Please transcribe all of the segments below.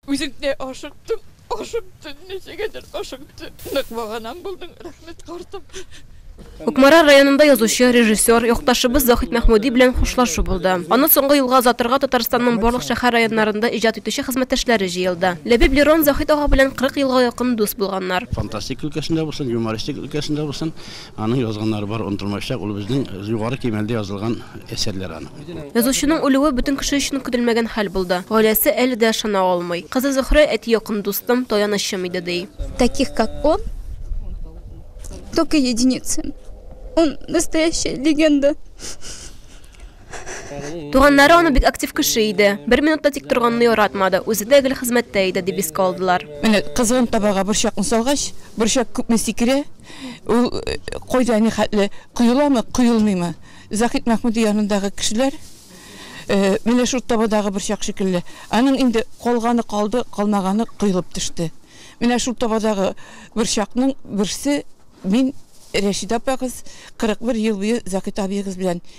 Үзем дә ашыктым, ашыктым, ничегәдер ашыктым. Нык баганам булдың, рәхмәт, картым. Кукмара районында язучы, режиссер, якташыбыз Захит Мәхмүди белән хушлашу булды. Аны соңгы юлга озатырга Татарстанның барлык шәһәр районнарында иҗат итүче хезмәттәшләре җыелды. Ләбиб Лерон Захит ага белән 40 елга якын дус булганнар. Фантастика өлкәсендә булсын, юмористик өлкәсендә булсын, Аның язганнары бар онытылмаячак, ул безнең Югары Кимәлдә язылган әсәрләр аның. Язучының үлүе бөтен кеше өчен көтелмәгән хәл булды. Гаиләсе әле дә ышана алмый. Кызы Зөһрә әти якын дустым, таянычым иде, ди. Таких как он только единицы. Он настоящая легенда. Туганнары аны бик актив кеше иде. Бер минутта тик торганны яратмады. Үзе дә гел хезмәттә иде, дип искә алдылар. Менә кызган табага борчакны салгач, борчак күпме сикерә, ул кайда ни хәтле, коеламы, коелмыймы? Заһит Мәхмүди янындагы кешеләр менә шул табадагы борчак шикелле. Аның инде калганы калды, калмаганы коелып төште. Менә шул табадагы борчакның берсе мин Рәшидә апагыз 41 ел буе Заһит абыегыз белән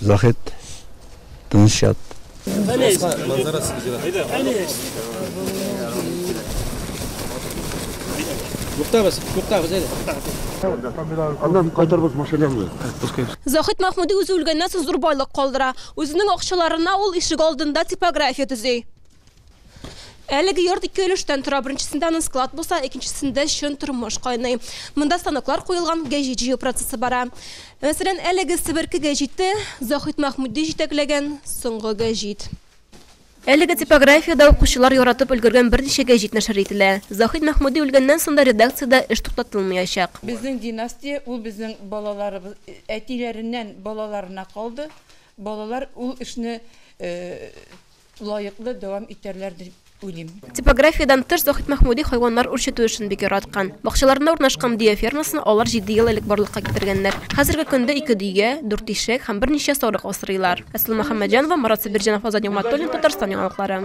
Заһит, тыныч ят. Туктагыз, туктагыз әле. Аннан кайтарбыз машинаны. Заһит Махмуди үзе үлгәннән соң зур байлык калдыра. Үзенең акчаларына ул ишек алдында типография төзи. Әлеге йорт ике өлештән тора. Беренчесендә аның склад булса, икенчесендә чын тормыш кайный. Монда станоклар куелган, гәҗит җыю процессы бара. Мәсәлән, әлеге себерке гәҗите Заһит Мәхмүди җитәкләгән соңгы гәҗит. Әлеге типографиядә укучылар яратып өлгергән берничә гәҗит нәшер ителә. Заһит Мәхмүди үлгәннән соң да редакциядә эш туктатылмаячак. Безнең династия, ул безнең балаларыбыз, әтиләреннән балаларына калды. Балалар ул эшне лаеклы дәвам итәрләр дип уйлыйм. Типографиядән тыш, Заһит Мәхмүди хайваннар үрчетү эшен бик яраткан. Бакчаларында урнашкан дөя фермасын алар җиде ел элек барлыкка китергәннәр. Хәзерге көндә ике дөя, дүрт ишәк һәм берничә сарык асрыйлар. Әсма Мөхәммәтҗанова, Марат Сабирҗанов, Азат Нигъмәтуллин, Татарстан яңалыклары.